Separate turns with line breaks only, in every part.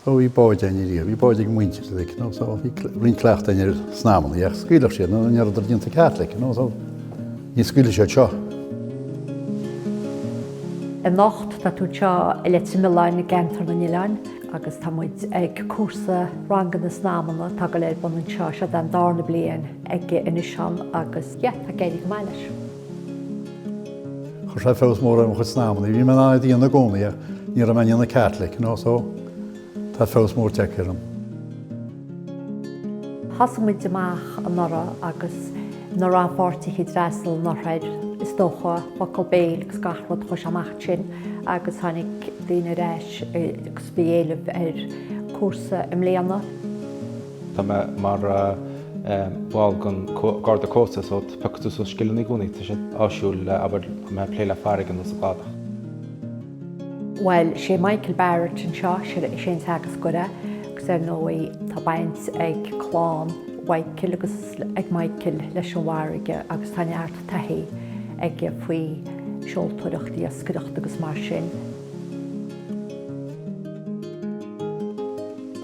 So bhí báid againn riamh, bhí báid ag muintir uilig, you know, so bhí roinnt cleachtadh againn ar snaidhmeanna, ach scaoilfeadh siad nó ní rabhadar déanta Caitliceach, you know, so ní scaoilfidh siad seo.
Anocht tá tú anseo i Leitir Mealláin i gceantar na nOileán agus tá muid ag cúrsa ranganna snaidhmeanna atá ag dul ar bun anseo. Seo den darna bliain aige anois ann agus yeah, tá ag éirí go maith leis.
Chuir sé feabhas mór ar mo chuid snaidhmeanna. Bhí mé in ann iad a dhéanamh i gcónaí ach ní raibh mé á ndéanamh Caitliceach, you know, so tá feabhas mór tagtha
orm. Thosaigh muid amach anuraidh agus na rannpháirtithe a d'fhreastail anuraidh, is dócha, focal béil agus gach rud, chuaigh sé amach ansin agus tháinig daoine ar ais agus bhí éileamh ar cúrsa i mbliana.
Tá mé mar bhall den Garda Cósta so piocfaidh tú suas scileanna i gcónaí. Tá sé áisiúil abair má tá tú ag plé le farraige nó sa gcladach. Bhuel,
'sé Michael Barrett anseo, sure, is é an teagascóir, agus ar ndóigh tá baint ag clann Mhichael agus ag Michael leis an bhfarraige agus tá neart taithí aige faoi seoltóireacht, iascaireacht agus mar sin.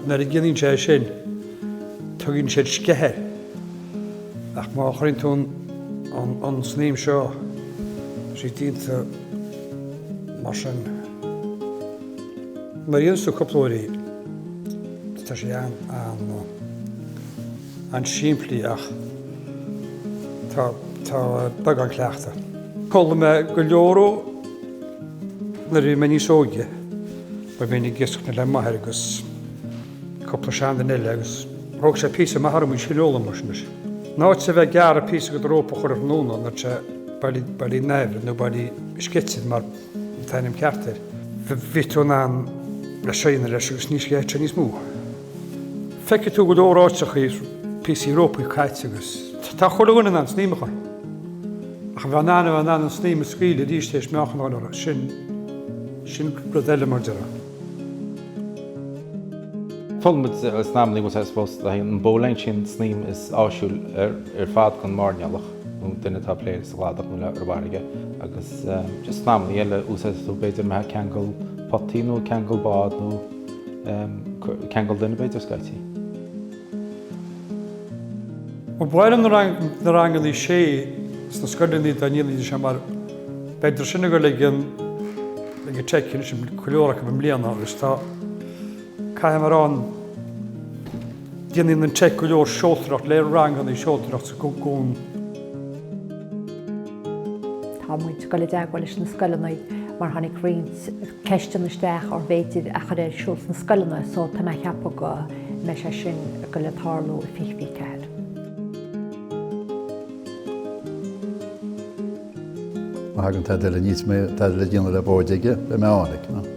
Nuair a dhéanann sé é sin, tugann siad sceith air, ach má chuireann tú an snaidhm seo síos déanta mar sin, nuair a dhéananns tú cúpla uair í, tá sé an. an-simplí ach tá beagán cleachtaidh. D'fhoghlaim mé go leor ó nuair a bhí mé níos óige, mar bhínn ag iascach le m'athair agus cúpla seanduine eile agus thóg sé píosa maith orm an scil a fhoghlaim mar sin. In áit a bheith ag gearradh píosa de do rópa chuile thráthnóna, nuair atá sé bailithe, bailithe in aimhréidh nó bailithe ag sceitheadh mar atá ainm ceart air. Bhí tú in ann a shrianadh leis agus ní sceithfidh sé níos mó. Feicfidh tú go leor áiteachaí píosaí rópaí caite agus. Tá chuile dhuine in ann snaidhm a chur. Ach a bheith in ann a bheith in ann an snaidhm a scaoileadh arís tar éis meáchan a dhul orthu, sin, sin rud eile mar a déarfá.
D'fhoghlaim muid snaidhmeanna, I suppose, an bowline, sin an snaidhm is áisiúla ar fad don mhairnéalach nó duine atá ag plé sa gcladach nó ar an bhfarraige agus just snaidhmeanna eile a úsáidfidh tú b'fhéidir má tá tú ag ceangal potaí nó ceangal bád nó ceangal duine b'fhéidir
scaití. Ó b'fhearr liom na rangannaí seo sna scoileanna dá ndéanfaidís é mar b'fhéidir sin ag dul ag an teic anois an go leor acu i mbliana agus tá caithfidh mé a rá déanann an teic go leor seoltóireacht le ranganna seoltóireacht sa gcuan. Tá muid ag dul i
dteagmháil leis na scoileanna mar tháinig roinnt ceisteanna isteach arbh fhéidir a chur ar siúl sna scoileanna so tá mé ag ceapadh go mbeidh sé sin go le tarlú i 2024,
má thagann tada eile níos mó, tada le déanamh le báid aige, beidh mé ann aige.